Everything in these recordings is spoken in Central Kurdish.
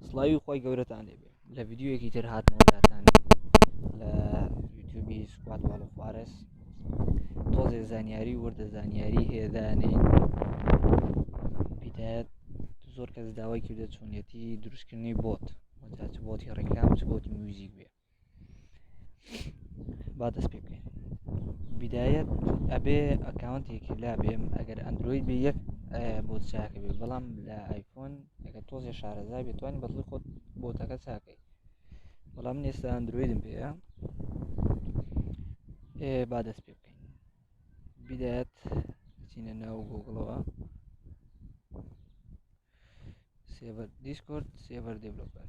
سڵاوی خۆی گەورەتان لێبێ لە ڤیددیوەکی تر هاتنەوەلاتان لە یوتوبی سوپات باڵ خوارس تۆزێ زانیاری وردە زانیاری هێدانێ پیدایەت زۆر کەس داوای کردە چۆنیەتی دروستکردنی بۆت وەجاچ بۆتی ڕێکلام چ بۆتی میوزیک بێ با دەست پێ بکەین بدایەت ئەبێ ئەکاونتێکی لا بێم ئەگەر ئەندروید بێ یەک بۆ چاکە بێ بەڵام لە ئایفۆن ئەگە تۆزێ شارەزا بێت توانین بەڵی خۆت بۆتەکە چاکەی بەڵام من ئێستا ئەندرویدم پێەیە ئێ با دەست پێ بکەین بدایەت چینە ناو گۆگڵەوە سێڤەر دیسکۆرد سێڤەر دێبلۆپەر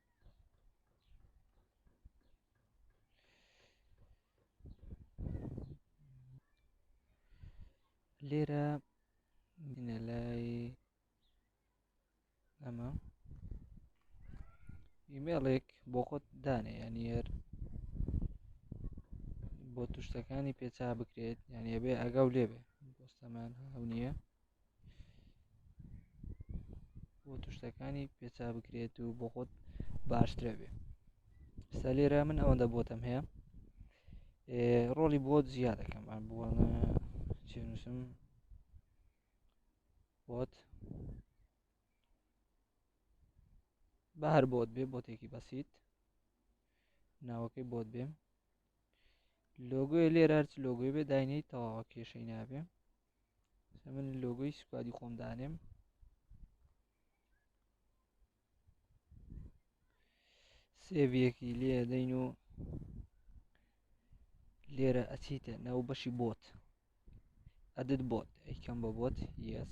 لێرە بینە لای ئەمە ئیمێڵێک بۆ خۆت دانێ یانیەر بۆ توشتەکانی پێچا بکرێت یانە بێ ئەگەڵ لێبێ بۆستەمان هەو نییە بۆ توشتەکانی پێچا بکرێت و بۆ خۆت باشترە بێ ستا لێرە من ئەوەندە بۆتم هەیە ڕۆڵی بۆ زیاد دەکەم ئەم بووە چێنووسم بۆت بە هەر بۆت بێ بۆتێکی بەسییت ناوەکەی بۆت بێم لۆگوێ لێرە هەرچ لۆگوێ بێ داینەی تەواوە کێشەی نابێ من لۆگۆی سوپادی خۆم دانێم سێڤیەکی لێ دەین و لێرە ئەچیتە ناو بەشی بۆت ئەدت بۆت ئەیکەم بە بۆت یس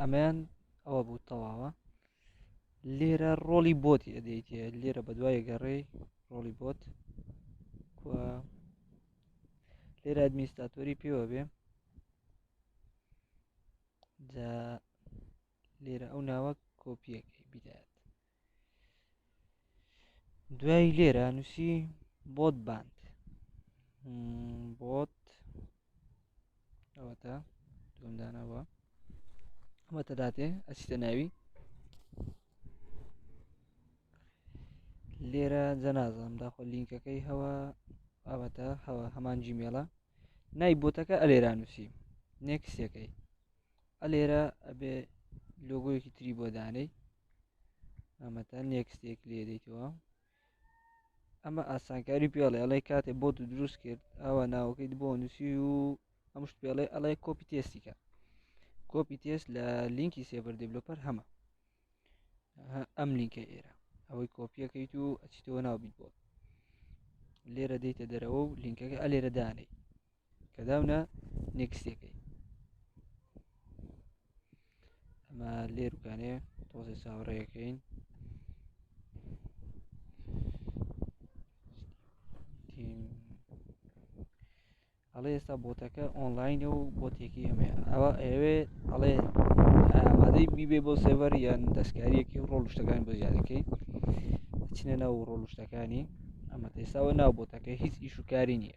ئەمەیان ئەوە بوو تەواوە لێرە ڕۆڵی بۆتی ئەدەیت لێرە بە دوای گەڕێ ڕۆڵی بۆت لێرە ئەدمیستاتۆری پێوە بێ جا لێرە ئەو ناوە کۆپیەکەی بدات دوای لێرە نووسی بۆت باند بۆت ئەوەتە دومدانەوە ئەوەتە داتێ ئەسیتە ناوی لێرە جەنازم داخۆ لینکەکەی هەوە ئەوەتە هەوە هەمان جیمێڵە نای بۆتەکە ئەلێرا نووسی نێکسەکەی ئەلێرە ئەبێ لۆگۆیەکی تری بۆ دانەی ئەمە تا نێکستێک لێ دەیتەوە ئەمە ئاسانکاری پێڵێ ئەڵێ کاتێ بۆ تو دروست کرد ئەوە ناوەکەیت بۆ نووسی و ئەم شت پێڵێ ئەڵێ کۆپی تێستیکە کۆپی تێست لە لینکی سێبەر دەبلۆپەر هەمە ئەم لینکە ئێرە ئەوەی کۆپیەکەیت و ئەچیتەوە ناو بیت بۆ لێرە دەیتە دەرەوە و لینکەکە ئەلێرە دانێ کە داونە نێکستەکەی ئەمە لێروکانێ تۆزی چاوەڕێەکەین ئەڵێ ئێستا بۆتەکە ئۆنلاینە و بۆتێکی ئەمێ ئەوە ئەوێ ئەڵێ ئامادەی بیبێ بۆ سێڤەر یان دەستکاریەکی ڕۆڵ شتەکان بۆ زیادەکەی چنە ناو ڕۆڵ شتەکانی ئەمە ئێستاوە ناو بۆتەکە هیچ ئیش و کاری نییە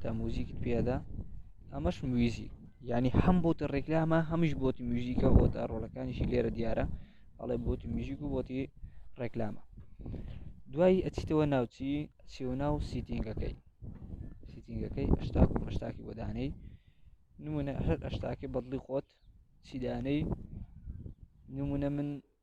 تا موزیکت پێدا ئەمەش مویزی ینی هەم بۆ تە ڕێکلامە هەمیش بۆتی موزیکە بۆ تا ڕۆلەکانیشی لێرە دیارە ئەڵێ بۆتی موزیک و بۆتی ڕێکلامە دوایی ئەچیتەوە ناوچی چێو ناو سیتینگەکەی سیتینگەکەی ئەشتا ئەشتاکی بۆدانەی نمونە هەر ئەشتاکە بەدڵی خۆت چیدانەی نمونە من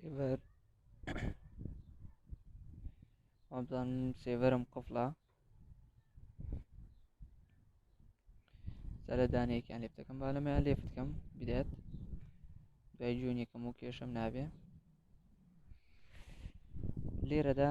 سێڤەر وابزان سێڤەرم قفڵە سەرە دانەیەکیان لێ بتەکەم با لەمەیان لێ بکەم بدات دوای جوونێکم و کێشم نابێ لێرەدا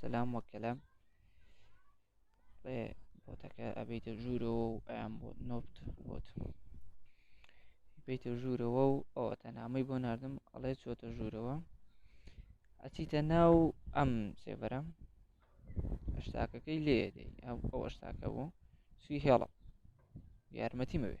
سلام وە کەلام بۆتەکە ئەبیتە ژوورەوە و ئەیان بۆ نۆبت بۆت بیتە ژوورەوە و ئەوە تەنامەی بۆ نردم ئەڵێ چۆتە ژوورەوە ئەچیتە ناو ئەم سێبەرە شتاکەکەی لێ دەی ئەو ئەوە شتاکە بوو سوی هێڵە یارمەتی مەوێ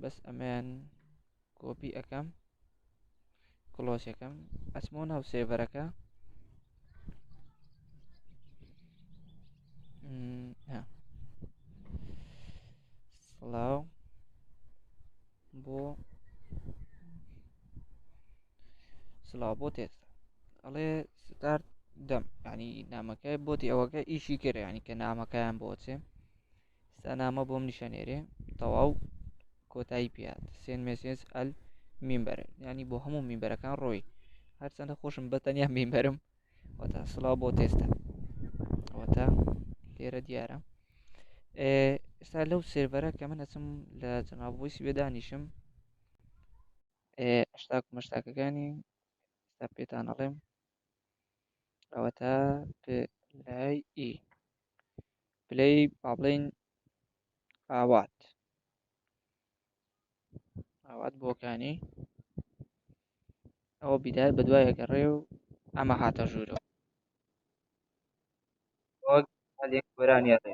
بەس ئەمەیان کۆپی ئەەکەم کلۆسەکەم ئەسمۆ ناو سێڤەرەکە سڵاو بۆ سلااو بۆ تێت ئەڵێ ستارت دەم ینی نامەکە بۆتی ئەوەکە ئیشی کرد ینی کە نامەکەیان بۆچێ ستا نامە بۆم نیشانێرێ تەواو کۆتایی پێات سێن مێسێنس ئەل میمبەر ینی بۆ هەموو میمبەرەکان ڕۆی هەرچەندە خۆشم بە تەنیا میمبەرم وەتا سلااو بۆ تێستە وەتا لێرە دیارە ئێستا لەو سێرڤەرە کە من ئەچم لە جەنابۆیسی بێدانیشم ئەشتاک مەشتاکەکانی ئێستا پێتان ئەڵێم ئەوەتا پلەی ئی e. پلەی با بڵێن ئاوات ئاوات بۆکانی ئەوە بیدار بە دوای ئەگەڕێ و ئەمە هاتە ژوورەوە هەندێک گۆرانیە دێ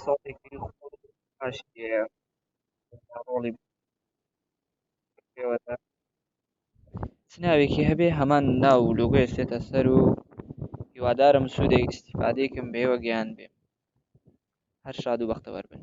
ساڵێکی خۆشیە ڕۆڵی پێوەدا چ ناوێکی هەبێ هەمان ناو و لۆگۆ ئێستێتە سەر و هیوادارم سوودێک ئیسیفادێکم بێوە گەیان بێ هەر شاد و بەختەوەر بن